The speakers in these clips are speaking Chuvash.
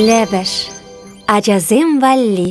Лӗпӗш ачасем валли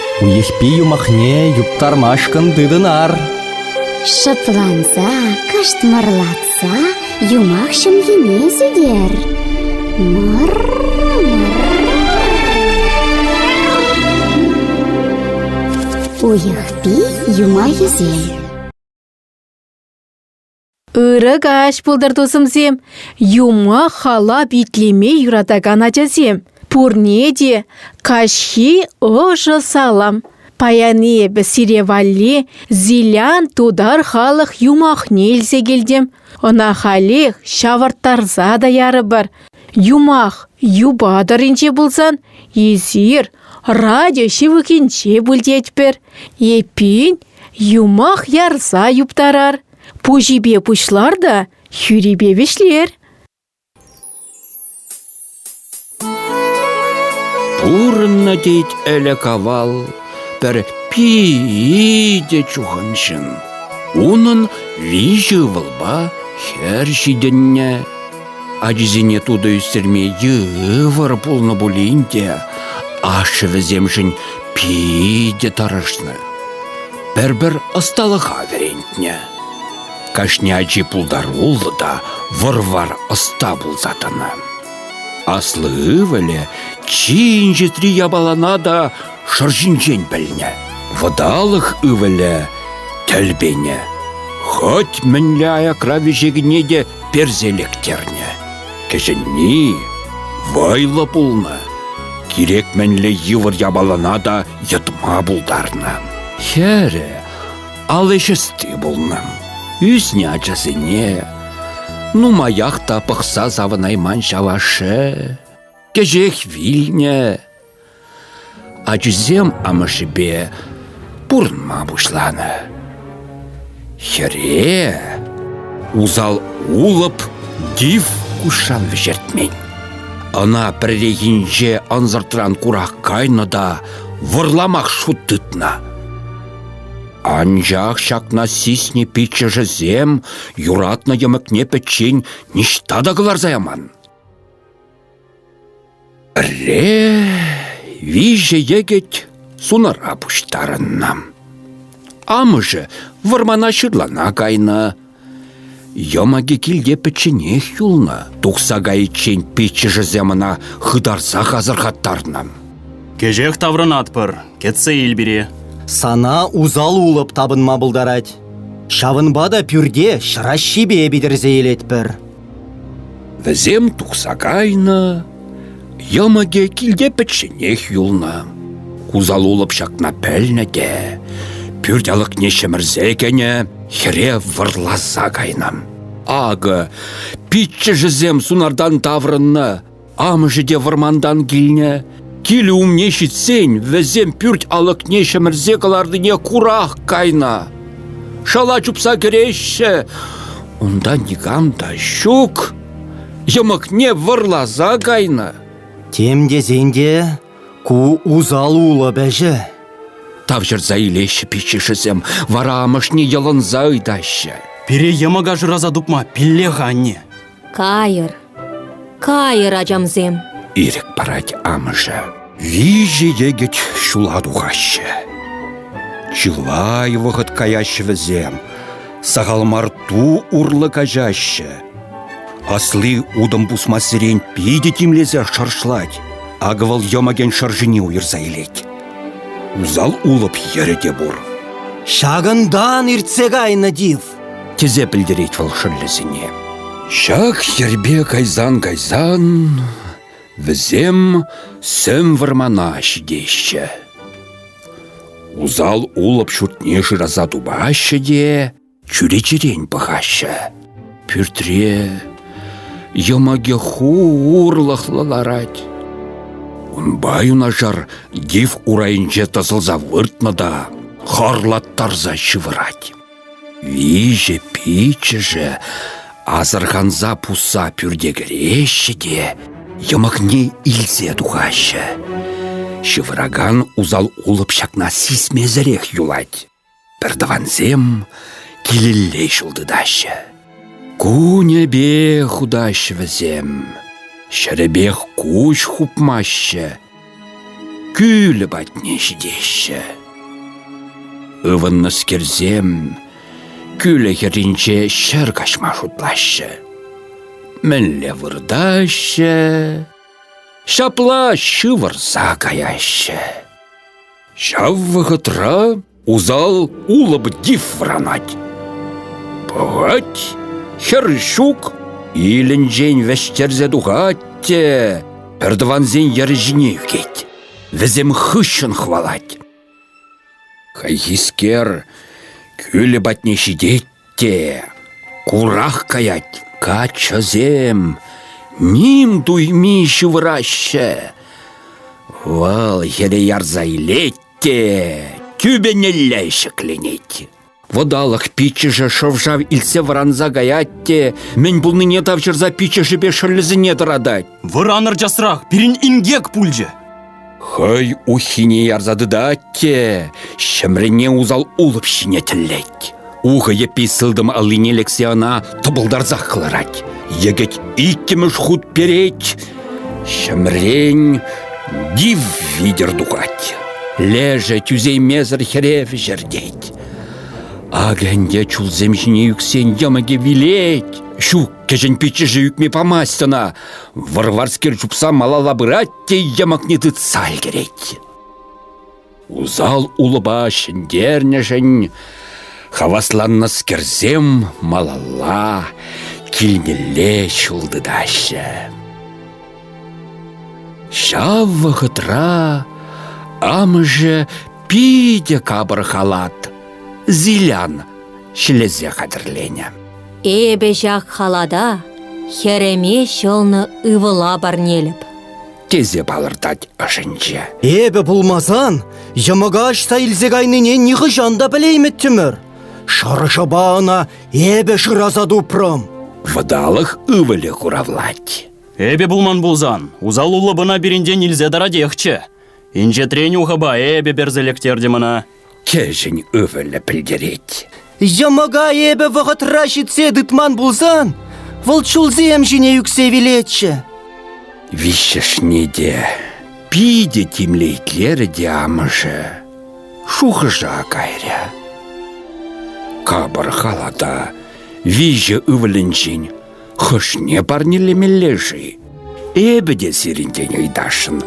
Уйӑхпи юмахне юптармашкӑн тытӑнар. Шӑпланса, кӑшт юмах ҫӑмхине сӳтер. Мӑр-мӑр. Уйӑхпи юмахӗсем Ырӑ каҫ пултӑр, тусӑмсем! Юмах халап итлеме юратакан ачасем! Пурне те каҫхи ӑшӑ салам! Паян эпӗ сире валли Зилян тутар халӑх юмахне илсе килтӗм. Ӑна халех ҫавӑрттарса та ярӑпӑр. Юмах юпа тӑрринче пулсан, эсир радио ҫывӑхӗнче пуль тетпӗр. Эппин, юмах ярса юптарар. Пуҫӗпе пуҫлар та хӳрипе вӗҫлер. Пурӑннӑ тет ӗлӗк-авал пӗр питӗ чухӑн ҫын. Унӑн виҫӗ ывӑлпа хӗр ҫитӗннӗ. Ачисене тутӑ ӳстерме йывӑр пулнӑ пулин те ашшӗ вӗсемшӗн питӗ тӑрӑшнӑ. пӗр-пӗр ӑсталӑха вӗрентнӗ. Кашни ачи пултаруллӑ та вӑр-вар ӑста пулса тӑнӑ. Аслӑ ывӑлӗ чи инҫетри япалана та шӑр ҫинчен пӗлнӗ. Вӑталӑх ывӑлӗ тӗлпенӗ. Хӑть мӗнле аякра вӗҫекне те персе лектернӗ. Кӗҫӗнни вӑйлӑ пулнӑ. Кирек мӗнле йывӑр япалана та йӑтма пултарнӑ. Хӗрӗ аллишести пулнӑ. Ӳснӗ ачасене нумаях та пӑхса савӑнайман ҫав ашшӗ. Кӗҫех вилнӗ. Ачисем амӑшӗпе пурӑнма пуҫланӑ. Хӗре усал улӑп тиф куҫран вӗҫертмен. Ӑна пӗррехинче ӑнсӑртран курак кайнӑ та вӑрламах шут тытнӑ. Анчах ҫакна сиснӗ пиччӗшӗсем юратнӑ йӑмӑкне пӗччен ниҫта та кӑларса яман. Пӗрре виҫӗ йӗкӗт сунара пуҫтарӑннӑ. Амӑшӗ вӑрмана ҫырлана кайнӑ. Йӑмӑкӗ килте пӗчченех юлнӑ. Тухса кайиччен пиччӗшӗсем ӑна хытарсах асӑрхаттарнӑ. Кӗҫех таврӑнатпӑр, кӗтсе ил пире. Сана усал улӑп тапӑнма пултарать. Ҫавӑнпа та пӳрте ҫӑраҫҫипе питӗрсе илетпӗр. Вӗсем тухса кайнӑ, йӑмӑкӗ килте пӗчченех юлнӑ. Усал-улӑп ҫакна пӗлнӗ те пӳрт алӑкне ҫӗмӗрсе кӗнӗ, хӗре вӑрласа кайнӑ. Акӑ, пиччӗшӗсем сунартан таврӑннӑ. Амӑшӗ те вӑрмантан килнӗ. Килӗ умне ҫитсен вӗсем пӳрт алӑкне ҫӗмӗрсе кӑларнине курах кайнӑ. Шала чупса кӗреҫҫӗ. Унта никам та ҫук. Йӑмӑкне вӑрласа кайнӑ. Тем тесен те ку усал улӑп ӗҫӗ. Тавҫӑрса илеҫҫӗ пиччӗшӗсем, вара амӑшне йӑлӑнса ыйтаҫҫӗ. Пире йӑмӑка шыраса тупма пилле-ха, анне. Кайӑр, кайӑр, ачамсем! Ирӗк парать амӑшӗ. Виҫӗ йӗкӗт ҫула тухаҫҫӗ. Чылай вӑхӑт каяҫҫӗ вӗсем. Сахал мар ту урлӑ каҫаҫҫӗ. Асли утӑм пусмассерен питӗ тимлесе шӑршлать. Акӑ вӑл йӑмӑкӗн шӑршине уйӑрса илет. Усал улӑп йӗрӗ те пур. Ҫакӑнтан иртсе кайнӑ тif. тесе пӗлтерет вӑл шӑллӗсене. Ҫак йӗрпе кайсан-кайсан вӗсем сӗм вӑрмана ҫитеҫҫӗ. Усал улӑп ҫуртне шыраса тупаҫҫӗ те чӳречерен пӑхаҫҫӗ. Пӳртре йӑмӑкӗ-ху урлӑхлӑ ларать. Унпа юнашар див урайӗнче тӑсӑлса выртнӑ та хӑрлаттарса ҫывӑрать. Виҫӗ-пиччӗшӗ асӑрханса пусса пӳрте кӗреҫҫӗ те йӑмӑкне илсе тухаҫҫӗ. Ҫывӑракан усал-улӑп ҫакна сисмесӗрех юлать. Пӗр тӑвансем килелле ҫул тытаҫҫӗ. Кунӗпе хутаҫҫӗ вӗсем. Ҫӗрӗпех куҫ хупмаҫҫӗ. Кӳлӗ патне ҫитеҫҫӗ. Ывӑннӑскерсем кӳлӗ хӗрринче ҫӗр каҫма шутлаҫҫӗ. Мӗнле выртаҫҫӗ? Ҫапла ҫывӑрса каяҫҫӗ. Ҫав вӑхӑтра Усал улӑп дифранать. Пӑхать, хӗр ҫук, илӗнчен вӗҫтерсе тухать те пӗртӑвансен йӗр ҫине ӳкет. Вӗсем хыҫҫӑн хӑвалать. Хайхискер кӳлӗ патне ҫитет Те курах каять каччӑсем, ним туйми ҫывӑраҫҫӗ. Вӑл хӗре ярса илет те тӳпенелле ҫӗкленет. Вӑталӑх пиччӗшӗ шӑв-шав илтсе вӑранса каять те мӗн пулнине тавҫӑрса пиччӗшӗпе шӑллӗсене тӑратать. Вӑранӑр часрах, пирӗн инкек пулчӗ. Хӑй уххине ярса тытать те ҫӗмренне усал улӑп ҫине тӗллет. Ухӑ йӗппи сылтӑм аллине лексе ӑна тӑпӑлтарсах кӑларать. Йӗкӗт иккӗмӗш хут перет. Ҫӗмрен нив витӗр тухать. Лешӗ тӳсеймесӗр хӗре вӗҫертет. Акӗ ӗнтӗ чулсем ҫине ӳксен йӑмӑкӗ вилет. Ҫук Кӗҫӗн пиччӗшӗ ӳкме памасть ӑна. Вӑрварскер чупса малалла пырать те йӑмӑкне тытса ӗлкӗрет. Усал улӑпа ҫӗнтернӗшӗн хавасланнӑскерсем малалла килнелле ҫул тытаҫҫӗ. Ҫав вӑхӑтра амӑшӗ питӗ капӑр халат, зилян ҫӗлесе хатӗрленӗ. Эпӗ ҫак халата хӗрӗме ҫӑлнӑ ывӑла парнелӗп. тесе палӑртать ӑшӗнче. Эпӗ пулмасан йӑмӑка ӑҫта илсе кайнине нихӑҫан та пӗлеймӗттӗмӗр. Шӑршӑпа ӑна эпӗ шыраса тупрӑм. Вӑталӑх ывӑлӗ хуравлать. Эпӗ пулман пулсан, усаллуллӑ пӑна пирӗнтен илсе таратехчӗ. Инҫетрен ухӑпа эпӗ персе лектертӗм ӑна. Кӗҫӗн ывӑлӗ пӗлтерет. Йӑмӑка эпӗ вӑхӑтра ҫитсе тытман пулсан, вӑл чулсем ҫине ӳксе вилетчӗ. Виҫҫӗшне те питӗ тимлӗ итлерӗ те амӑшӗ. Шухӑша кайрӗ. Капӑр халата виҫӗ ывӑлӗнчен Хӑшне парнелемелле-ши? Эпӗ те сирӗнтен ыйтасшӑн.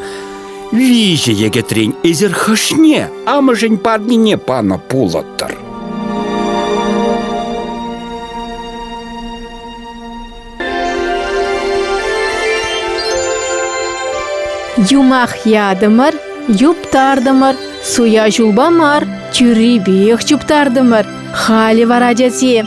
Виҫӗ йӗкӗтрен эсир хӑшне амӑшӗн парнине панӑ пулӑттӑр? Юмах ятӑмӑр, юптартӑмӑр, суя ҫулпа мар, тӳррипех чуптартӑмӑр. Халӗ вара, тесе,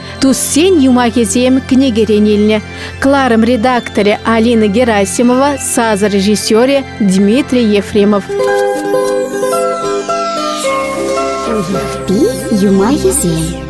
Туссен юмахӗсем кӗнекерен илнӗ. Кларым редакторӗ Алина Герасимова, саз режиссерӗ Дмитрий Ефремов. Юмахӗсем